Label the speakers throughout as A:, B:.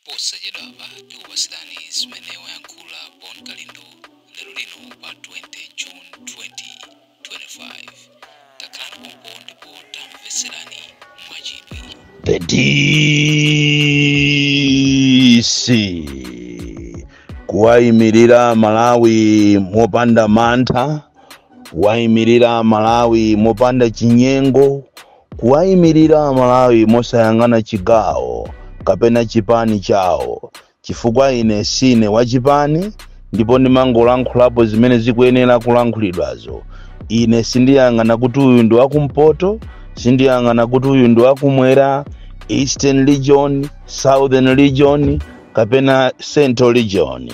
A: posachedwapa tikupatsirani zimene wayankhula bon kalindo lero lino pa 20 june 2025 takhala pompo ndipo tamvetserani mwachidwi The
B: DC kuwayimirira Malawi mopanda mantha, kuwayimirira Malawi mopanda chinyengo, kuwaimilira amalawi mosayang'ana chigawo kapena chipani chawo chifukwa ine sine wachipani ndipo ndimangolankhulapo zimene zikuyenera kulankhulidwazo ine sindiyang'ana kuti uyu ndi wakumpoto sindiyang'ana kuti uyu ndi wakumwera eastern region southern region kapena central region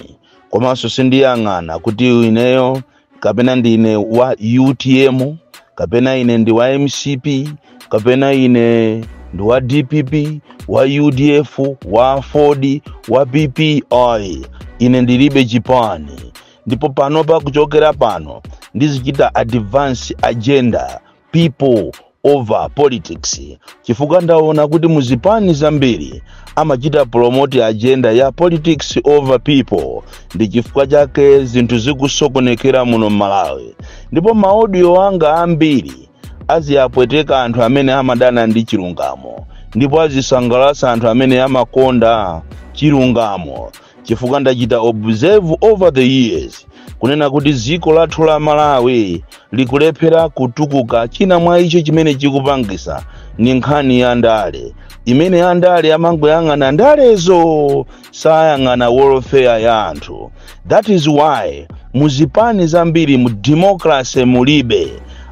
B: komanso sindiyang'ana kuti ineyo kapena ndine wa utm kapena ine ndi wa mcp kapena ine ndi wa dpp wa udf wa aford wa pp ai ine ndilibe chipani ndipo panopa kuchokera pano ndizichita advance agenda people over politics chifukwa ndaona kuti muzipani zambiri amachita promote agenda ya politics over people ndi chifukwa chake zinthu zikusokonekera muno m'malawi ndipo maaudio anga ambiri aziyapweteka anthu amene amadana ndi chilungamo ndipo azisangalatsa anthu amene amakonda chilungamo chifukwa ndachita observe over the years kunena kuti dziko lathu la malawi likulephera kutukuka china mwa icho chimene chikupangisa ni nkhani ya ndale imene andale amangoyang'ana ndalezo sayang'ana welfare ya anthu that is why muzipani zambiri mu democracy mulibe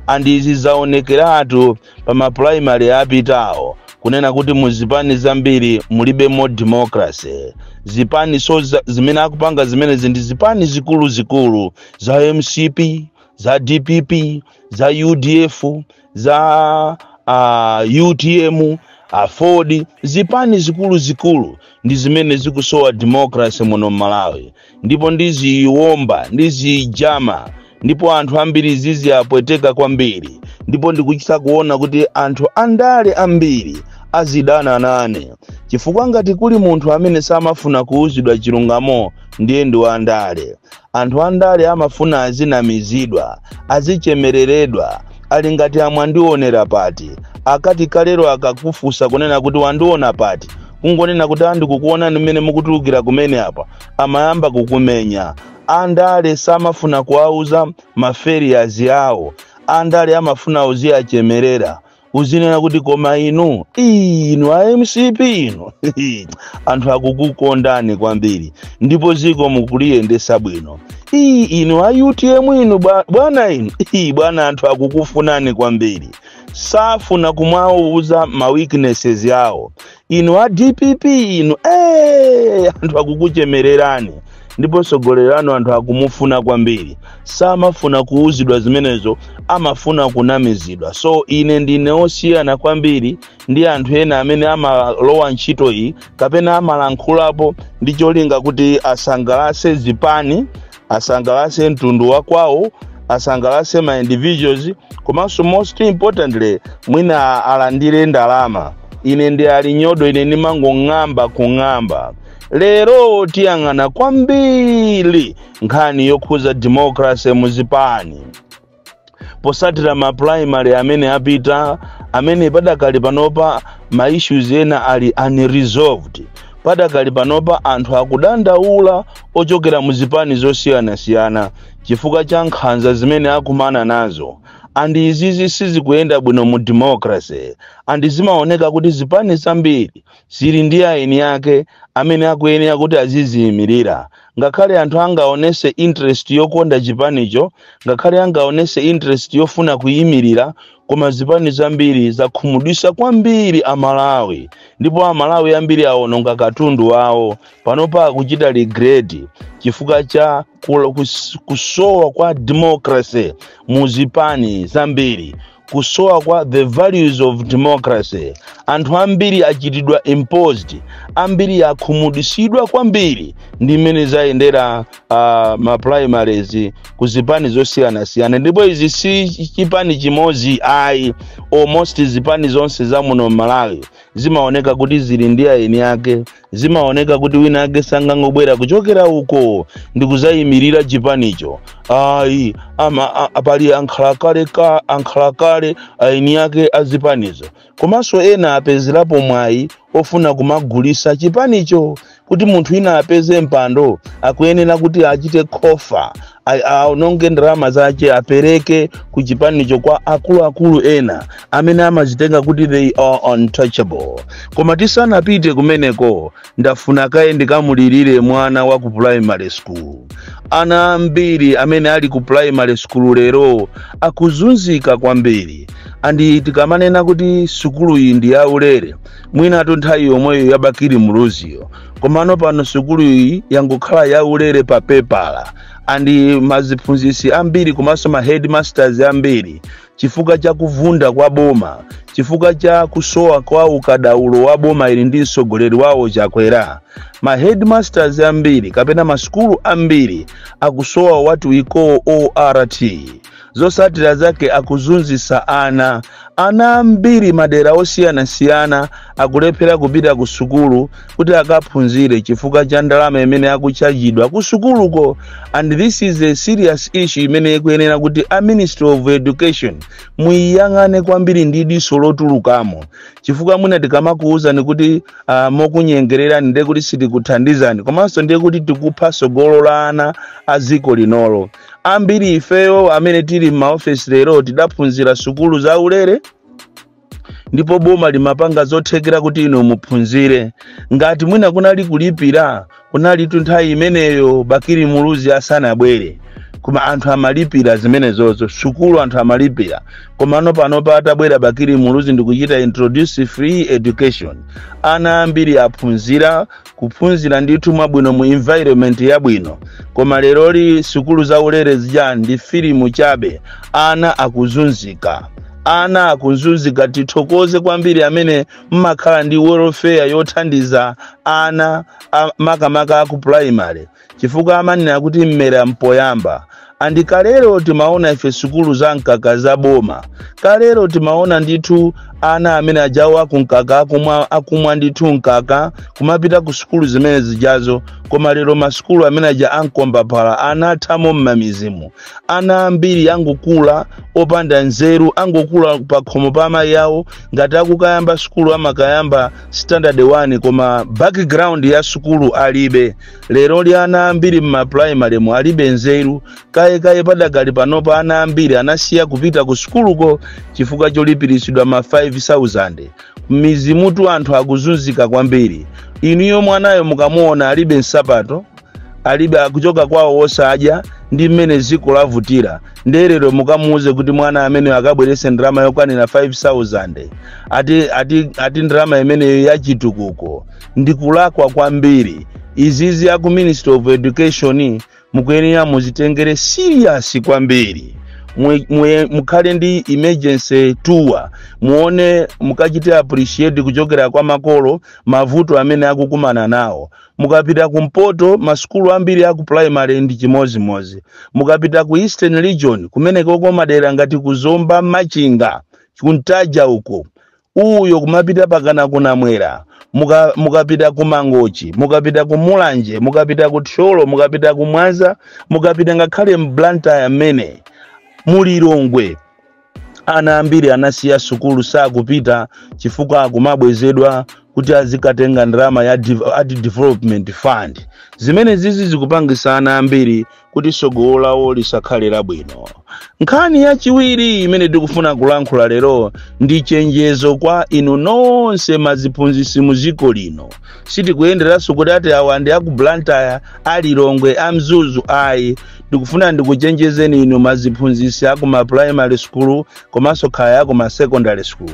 B: and izi zaonekeratu pa ma primary apitawo kunena kuti mu zipani zambiri mulibemo democracy zipaniso zimene akupanga zimenezi ndi zipani zikuluzikulu za mcp za dpp za udf za uh, utm aford zipani zikuluzikulu ndi zimene zikusowa democracy muno m'malawi ndipo ndiziwomba ndizijama ndipo anthu ambiri ziziapweteka kwambiri ndipo ndikuchita kuona kuti anthu andale ambiri azidana nane chifukwa ngati kuli munthu amene samafuna kuuzidwa chilungamo ndiye ndi wandale anthu andale amafuna azinamizidwa azichemereredwa ali ngati amwandionera pati akati kalero akakufusa kunena kuti wandiona pati kungonena kuti a ndikukuonani mmene mukutulukira kumene apo amayamba kukumenya andale samafuna kuwauza ma failures awo andale amafuna uziyachemerera uzinena kuti koma inu ii, inu a mcp inu anthu akukukondani kwambiri ndipo ziko mukuliyendesa bwino ii, inu a utm inu bwa- bwana inu ii, bwana anthu akukufunani kwambiri safuna kumwauza ma weaknesses yawo inu a dpp inu ee anthu akukuchemererani ndipo mtsogoleri wanu anthu akumufuna kwambiri samafuna kuuzidwa zimenezo amafuna kunamizidwa so ine ndine osiyana kwambiri ndi anthu ena amene amalowa ntchito iyi kapena amalankhulapo ndi cholinga kuti asangalatse zipani asangalatse mtundu wa kwawo asangalatse ma individuals komanso most importantly mwina alandire ndalama ine ndi ali nyodo ine ndimangong'amba kung'amba lero tiyang'ana kwambiri nkhani yokhuza democracy muzipani posatira ma primary amene apita amene padakali panopa ma issues ena ali unresolved padakali panopa anthu akudandaula ochokera mu zipani zosiyanasiyana chifukwa cha nkhanza zimene akumana nazo and izizi sizikuyenda bwino mu democracy and zimaoneka kuti zipani zambiri zili ndi eni ake amene akuyenera kuti aziziyimirira ngakhale anthu angaonese interest yokonda chipanicho ngakhale angaonese interest yofuna kuyimirira koma zipani zambiri zakhumudwisa kwambiri amalawi ndipo amalawi ambiri awononga katundu wawo panopa akuchita regret chifukwa cha kula- kus- kusowa kwa democracy mu zipani zambiri kusowa kwa the values of democracy anthu ambiri achitidwa imposed ambiri akhumudwitsidwa kwambiri ndi mmene zayendera uh, ma primaries ku zipani zosiyanasiyana ndipo izi si chipani chimodzi ayi almost zipani zonse za muno m'malawi zimaoneka kuti zili ndi aeni ake zimaoneka kuti wina ake sangangobwera kuchokera uko ndi kuzayimirira chipanicho ayi ama a- a- pali ankhalakale ankhalakale aeni ake azipanizo komanso ena apezerapo mwayi ofuna kumagulisa chipanicho kuti munthu ina apeze mpando akuyenera kuti achite khofa a- aononge ndalama zake apereke ku chipanicho kwa akuluakulu ena amene amazitenga kuti they are untouchable koma tisanapite kumeneko ndafuna kaye ndikamulirire mwana wa ku primary school ana ambiri amene ali ku primary school lero akuzunzika kwambiri andi tikamanena kuti sukuluyi ndi yaulere mwinatu nthawi yomweyo ya bakili muluziyo komano pano sukulu iyi yangokhala yaulere pa pepala and aziphunzitsi ambiri komanso ma headmasters ambiri chifukwa cha kuvunda kwa boma chifukwa cha kusowa kwa ukadaulo wa boma ili ndi mtsogoleri wawo chakwera ma headmasters ambiri kapena masukulu ambiri akusowa what we call ort zotsatira zake akuzunzitsa ana ana ambiri madera osiyanasiyana akulephera kupita ku sukulu kuti akaphunzire chifukwa cha ndalama imene akutchajidwa ku sukuluko and this is a serious issue imene ikuyenera kuti a ministry of education muyiyang'ane kwambiri ndi diso lotulukamo chifukwa mwina tikamakuwuzani kuti uh, mokunyengererani ndiye kuti sitikuthandizani komanso ndiye kuti tikupha tsogolo la ana a dziko linolo ambiri ifeyo amene tili m'maofesi lero tidaphunzira sukulu za ulere ndipo boma limapanga zothekera kuti inu muphunzire ngati mwina kunali kulipira kunalitu nthawi imeneyo bakili muluzi asanabwere koma anthu amalipira zimenezozo sukulu anthu amalipira komano pano patabwera bakili muluzi ndikuchita introduce free education ana ambiri aphunzira kuphunzira ndithu mwabwino mu environment yabwino koma leroli sukulu za ulere zija ndi filimu chabe ana akuzunzika ana akuzunzika tithokoze kwambiri amene mmakhala ndi welfare yothandiza ana a- makamaka aku primary chifukwa amanena kuti mmera mpoyamba and kalero timaona ife sukulu za mkaka za boma kalero timaona ndithu ana amene ajawa kumkaka akumwa, akumwa ndithu mkaka kumapita ku sukulu zimene zijazo koma lero masukulu amene aja ankombaphala anathamo m'mamidzimu ana ambiri angokula opanda nzeru angokula pakhomo pa amayi awo ngati akukayamba sukulu amakayamba standard 1 koma background ya sukulu alibe leroli ana ambiri m'mapulaimalemu alibe nzeru kayekaye padakali panopa ana ambiri anasiya kupita ku sukuluko chifukwa cholipiritsidwa ma 5000 m'midzimutu anthu akuzunzika kwambiri inuyo mwanayo mukamuona alibe nsapato alibe akuchoka kwawo osadya ndi mmene dziko lavutira nde lero mukamuuze kuti mwana ameneyo akabweretse ndalama yokwanira 5000 ati, ati, ati ndalama imeneyo yachitukuko ndi kulakwa kwambiri izizi aku ministry of education mukuyenera muzitengere serious kwambiri Mwe- mwe- mukhale ndi emergency tour muone mukachite appreciate kuchokera kwa makolo mavuto amene akukumana nawo mukapita kumpoto masukulu ambiri aku primary ndi chimozimozi mukapita ku eastern region kumenekoko madera ngati kuzomba machinga ku ntaja uko Uyo kumapita pakana ku Namwera, mukapita ku Mangochi, mukapita ku Mulanje, mukapita ku Thyolo, mukapita ku Mwanza, mukapita ngakhale mu Blantyre mmenemu, Lilongwe ana ambiri anasiya sukulu sakupita chifukwa akumabwezedwa kuti azikatenga ndalama ya div- ati development fund zimene zizi zikupangisa ana ambiri kuti tsogolo lawo lisakhale labwino nkhani yachiwiri imene tikufuna kulankhula lero ndi chenjezo kwa inu nonse maziphunzitsi mu dziko lino sitikuyenderanso kuti ati awa ndi aku blantyre a lilongwe a mzuzu ayi ndikufuna ndikuchenjezeni inu maziphunzitsi aku ma primary school komanso kaya aku ma secondary school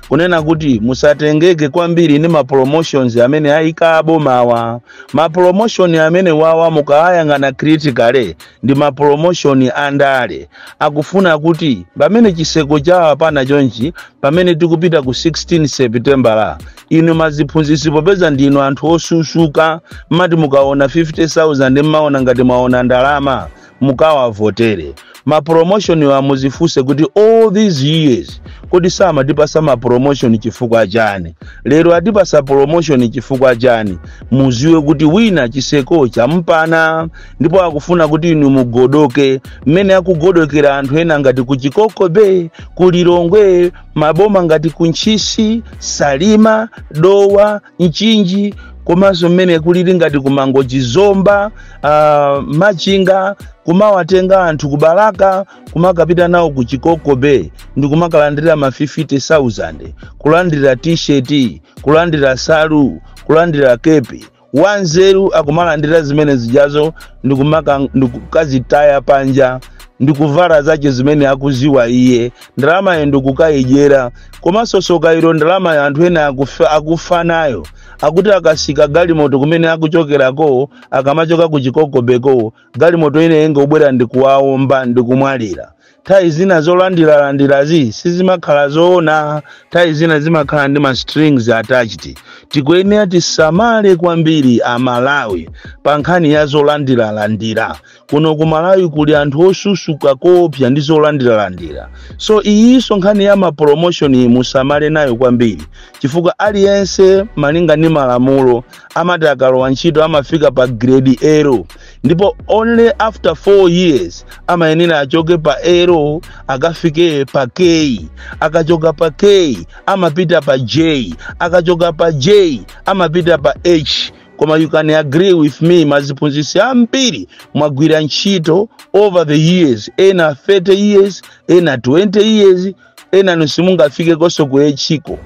B: kunena kuti musatengeke kwambiri ndi ma promotions amene ayika abomawa Ma promotion amenewawa mukawayang'ana critically ndi ma promotion a ndale. Akufuna kuti pamene chitseko chawapana chonchi pamene tikupita ku 16 September inu maziphunzitsi popeza ndinu anthu osusuka mmati mukaona 50,000 mmaona ngati mwaona ndalama mukawavotere ma promotion wa muzifunse kuti all these years kodi samatipasa ma promotion chifukwa chani lero atipasa promotion chifukwa chani muziwe kuti wina chitseko champana ndipo akufuna kuti inu mugodoke mmene akugodokera anthu ena ngati ku chikoko bay ku lilongwe maboma ngati ku ntchisi salima dowa mchinji komanso mmene kulili ngati ku mangochi zomba uh, machinga kumawatenga anthu ku balaka kumakapita nawo ku chikoko bay ndi kumakalandira ma 50000 kulandira t-shirt kulandira nsalu kulandira kepi wanzeru akumalandira zimene zijazo ndi kumaka- ndi kukazitaya panja ndi kuvala zace zimene akuziwa iye ndalamayo ndikukayidyera komanso soka ilo ndalamayo anthu ena akufa nayo akuti akatsika galimoto kumene akuchokerako akamachoka ku chikoko bay-ko galimoto ina ingobwera ndikuwaomba ndikumwalira nthawi zina zolandiralandirazi sizimakhala zoona nthawi zina zimakhala ndi ma strings attached tikuyenera tisamale kwambiri amalawi pa nkhani ya zolandiralandira kuno ku malawi kuli anthu osusuka koopsa ndi zolandiralandira so iyinso nkhani ya mapromotion iyi musamale nayo kwambiri chifukwa aliyense malinga ndi malamulo amati akalowa ntchito amafika pa grade L ndipo only after 4 years amayenera achoke pa L akafike pa k akachoka pa k amapita pa j akachoka pa j amapita pa h koma you can agree with me maziphunzitsi ambiri mwagwira ntchito over the years ena 30 years ena 20 years ena inu simungafike konso ku echiko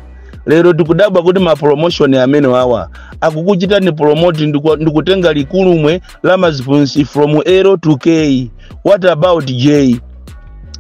B: lero tikudabwa kuti mapromotion amene wawa akukuchitani promote ndikutenga ligulumwe la maziphunzitsi from l to k what about j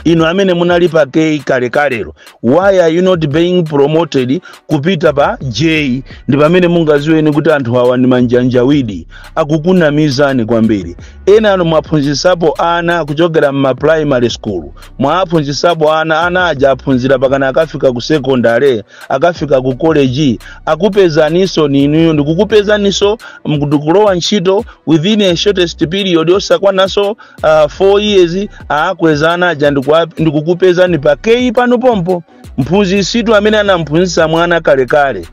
B: inu amene munali pa k kalekalero why are you not being promoted kupita pa j ndi pamene mungaziweni kuti anthu awa ndi manjanjawidi akukunamizani kwambiri ena anu mwaphunzisapo ana kuchokera mma primary school mwaphunzisapo ana ana aja aphunzira pakana akafika ku secondary akafika ku college akupezaniso ninuyo ndikukupezaniso nkulowa ntchito within a shortest period osakwananso 4 years akweza ana aja ndikukupezani pa k pano pompo mphunzisitu amene anamphunzisa mwana kalekale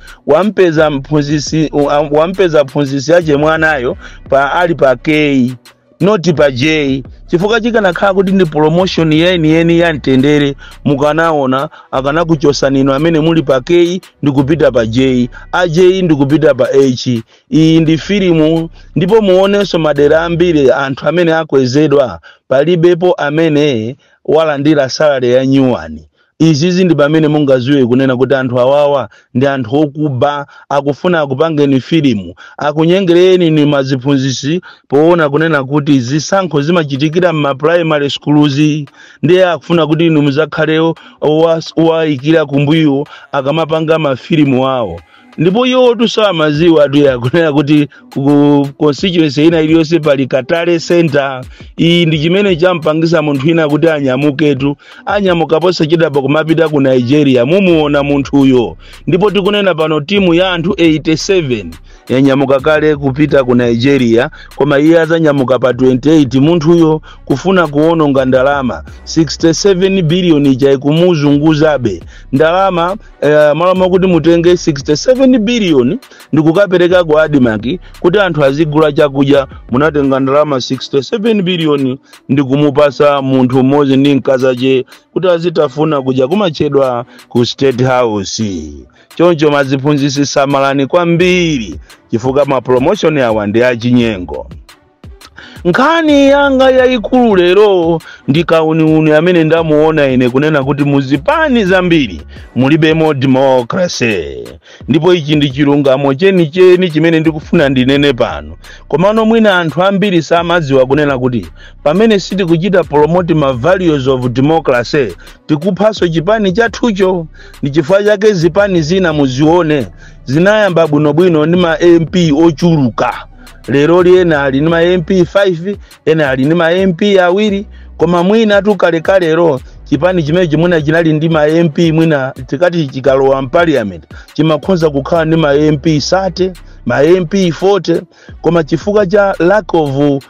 B: wampeza mphunzisi ache mwanayo pa ali pa k not pa j chifukwa chikanakhala kuti ndi promotion yeniyeni ya mtendere mukanaona akanakuchosani inu amene muli pa k ndikupita pa j a j ndikupita pa h Iyi ndi filimu ndipo muonenso madera ambiri anthu amene akwezedwa palibepo amene walandira salary ya nyuwani. Izizi ndi pamene mungaziwe kunena kuti anthu awawa ndi anthu okuba akufuna akupangeni filimu akunyengereni inu maziphunzisi poona kunena kuti zisankho zimachitikira mma primary schools ndiye akufuna kuti inu muzakhale owayikira kumbuyo akamapanga mafilimu awo. ndipo iwotu sakumaziwatu yakunena kuti ku constituency ina iliyonse pali ka tally center iyi ndi chimene champangisa munthu ina kuti anyamuketu anyamuka posachedwapa kumapita ku nigeria mumuona munthuyo ndipo tikunena pano timu ya anthu 87 yanyamuka kale kupita ku nigeria koma iye azanyamuka pa 28 munthuyo kufuna kuononga ndalama 67 biliyoni ija ikumuzunguzabe ndalama eh, malo mwakuti mutenge 67 biliyoni ndikukapereka ku admarc kuti anthu azigula chakudya munatenga ndalama 67 biliyoni ndikumupasa munthu mmodzi ndi mkazache kuti azitafuna kudya kumatchedwa ku state house choncho maziphunzisi samalani kwambiri chifukwa mapromoshoni awa ndi achinyengo nkhani yanga yayikulu lero ndi kauniuni amene ndamuona ine kunena kuti muzipani zambiri mulibemo democracy ndipo ichi ndi chilungamo chenicheni chimene ndikufuna ndinene pano komano mwina anthu ambiri samadziwa kunena kuti pamene sitikuchita promote ma values of democracy tikuphanso chipani chathucho ndi chifukwa chake zipani zina muzione zinayamba bwinobwino ndi ma mp ochuluka leroli ena ali ndi ma mp 5 ena ali ndi ma mp awiri koma mwina kalekalelo chipani chimenechi mwina chinali ndi ma mp mwina tikati chikalowa m'parliament chimakhoza kukhala ndi ma mp 30 ma mp 40 koma chifukwa cha lack of uh,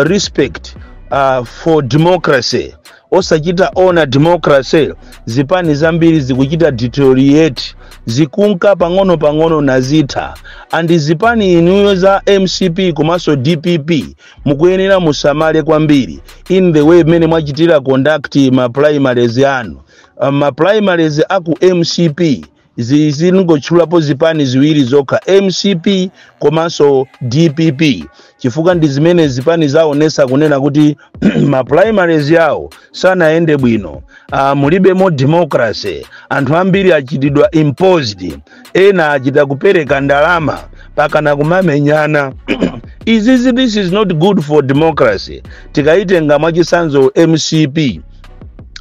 B: respect uh, for democracy osachita honour democracy zipani zambiri zikuchita deteriorate zikunka pang'ono pang'ono nazitha andi zipani inuyo za mcp komanso dpp mukuyenera musamale kwambiri in the way mmene mwachitira conduct ma primaries anu Ah, ma primaries aku mcp Zi- zingotchulapo zipani ziwiri zokha mcp komanso dpp chifukwa ndi zimene zipani zaonesa kunena kuti ma primaries yawo sanayende bwino ah, mulibemo democracy anthu ambiri achitidwa imposed ena achita kupereka ndalama mpakana kumamenyana izizi this is not good for democracy tikayitenga mwachisanzo mcp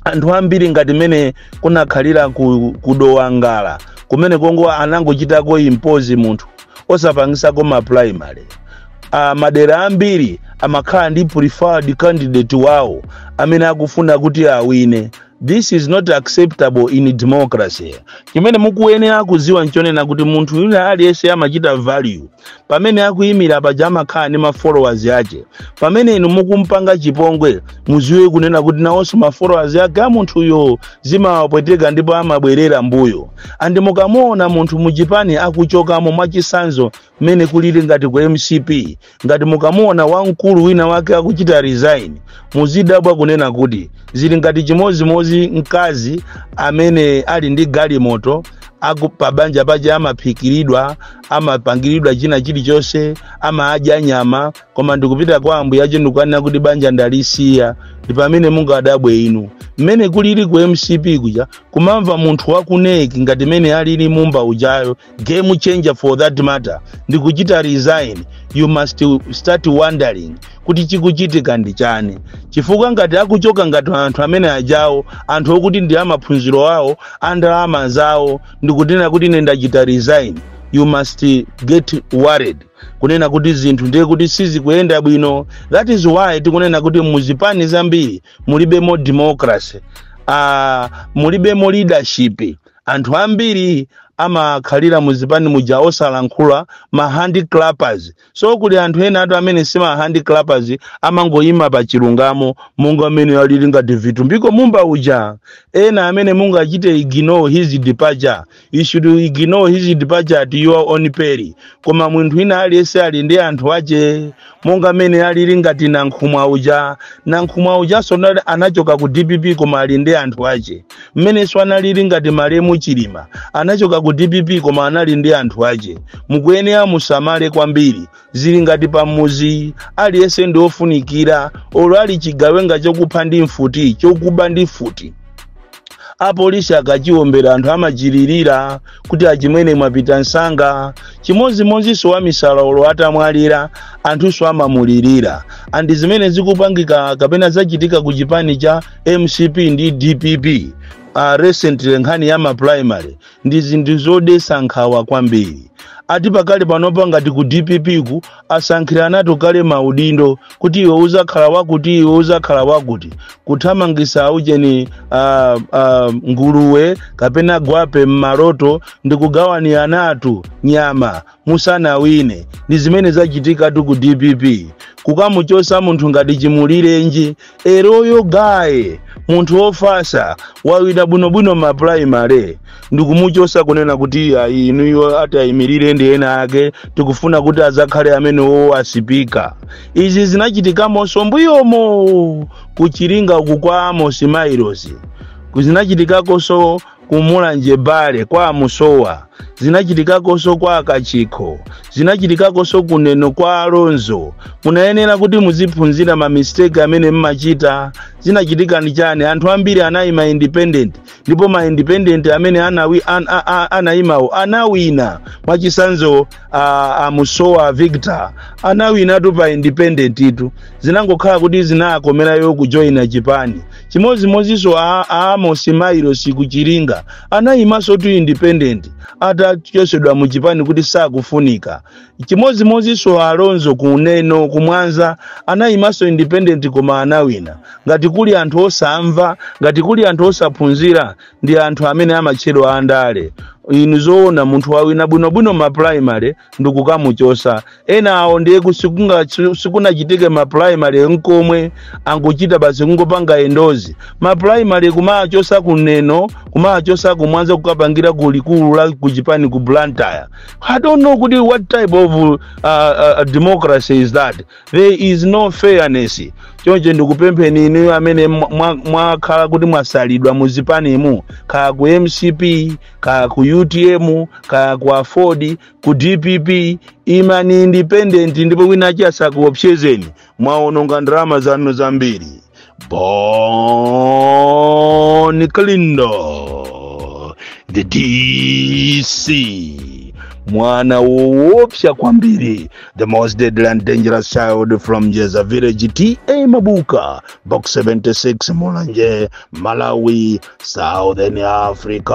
B: anthu ambiri ngati mene kunakhalira ku, ku dowa ngala kumene kongo anangochitako impose munthu osapangisako ma primary uh, madera ambiri amakhala ndi preferred candidate wawo amene akufuna kuti awine this is not acceptable in democracy chimene mukuyenera kuziwa nchonena kuti munthu yule aliyense amachita value pamene akuyimira paja amakhala ndi ma followers ake pamene inu mukumpanga chipongwe muziwe kunena kuti nawonso ma followers ake a munthuyo zimawapweteka ndipo amabwerera mbuyo andi mukamuona munthu muchipani akuchokamo mwachisanzo mmene kulili ngati ku mcp ngati mukamuona wamkulu wina wake akuchita resign muzidabwa kunena kuti zili ngati chimodzimodzi mkazi amene ali ndi galimoto aku pabanja paja amaphikiridwa amapangiridwa china chilichonse amadya nyama koma ndikupita kwa ambuye ache ndikukanena kuti banja ndalisiya ndi pamene mungadabwe inu mmene kulili ku mcp kuja kumamva munthu wa ku nec ngati mene alili mumba ujayo game changer for that matter ndikuchita resign you must start wondering kuti chikuchitika ndi chani chifukwa ngati akuchoka ngati anthu amene ajawo anthu okuti ndi amaphunziro awo andalama zawo ndikunena kuti ine ndachita resign you must get worried kunena kuti zinthu ndiye kuti sizikuyenda bwino that is why tikunena kuti muzipani zambiri mulibemo democracy uh, mulibemo leadership anthu ambiri amakhalira muzipani muja osalankhula ma handiclappers so kuli anthu enatu amene si ma handiclappers amangoyima pa chilungamo monga mmene alili ngati vitumbiko mumba uja ena amene mungachite ignore his departure you should ignore his departure at your own peril koma munthu ina aliyense ali ndi anthu ache monga mmene alili ngati nankhumwa uja nankhumwa ujanso anali- anachoka ku dpp koma ali ndi anthu ache mmenenso analili ngati malemu chilima anachoka ku dpp koma anali ndi anthu ache mukuyenera musamale kwambiri zili ngati pamuzi aliyense ndi ofunikira olo ali chigawenga chokupha ndi mfuti chokuba ndi mfuti apolisi akachiwombera anthu amachilirira kuti achimwene mwapita msanga chimodzimodzinso wamisala olo atamwalira anthunso amamulirira andi zimene zikupangika kapena zachitika ku chipani cha mcp ndi dpp uh, recently nkhani ya maprimary ndi zinthu zodesa nkhawa kwambiri ati pakali panopa ngati ku dpp ku asankhiranatu kale maudindo kuti iwe uzakhala wakuti iwe uzakhala wakuti kuthamangisa ujeni uh, uh, nguluwe kapena gwape m'maloto ndi kugawaniranatu nyama musanawine ndi zimene zachitikatu ku dpp kukamuchosa munthu ngati chimulirenji a loyal guy munthu ofasa wawina bwinobwino ma primary ndikumuchosa kunena kuti ayi inuyo atayimirire ndi ena ake tikufuna kuti azakhale amenewowo asipika izi zinachitikamonso mbuyomo kuchiringa uku kwa amosi mailosi zinachitikakonso ku mulanje bale kwa amusowa zinachitikakonso kwa akachikho zinachitikakonso kuneno kwa alonzo munayenera kuti muziphunzira mamisteki amene mmachita zinachitika ndi chani anthu ambiri anayima independent ndipo ma independent amene anawi, an, a, a, anayimawo anawina mwachisanzo a, a musowa a victor anawinatu pa independent tu zinangokhala kuti zinakomerayo kujoyina chipani chimodzimodzinso a, a amosi mailosi kuchiringa anayimansotu independent atachosedwa mu chipani kuti sakufunika chimodzimodzinso a alonzo kuneno kumwanza anayimanso independent koma anawina ngati kuli anthu osamva ngati kuli anthu osaphunzira ndi anthu amene amatchedwa andale inu zoona munthu wawina bwinobwino ma primary ndikukamuchosa ena awo ndiye ku- sikunga- si- sikunachitike ma primary nkomwe angochita basi kungopanga endorse ma primary kumachosa ku neno kumachosa ku mwanza kukapangira ku likulu la ku chipani ku blantyre i don't know kuti what type of uh, uh, democracy is that there is no fairness choncho ndikupempheni inuyo amene mwa- mwa- mwakhala kuti mwasalidwa mu zipanimu kaya ku mcp kaya ku utm kaya ku aford ku dpp imani independent ndipo winachi asakuopsezeni mwaononga ndalama zanu zambiri Bon Kalindo, the DC, mwana woopsa kwambiri, the most deadly and dangerous child from Jeza village TA Mabuka, box 76 Mulanje, Malawi, Southern Africa.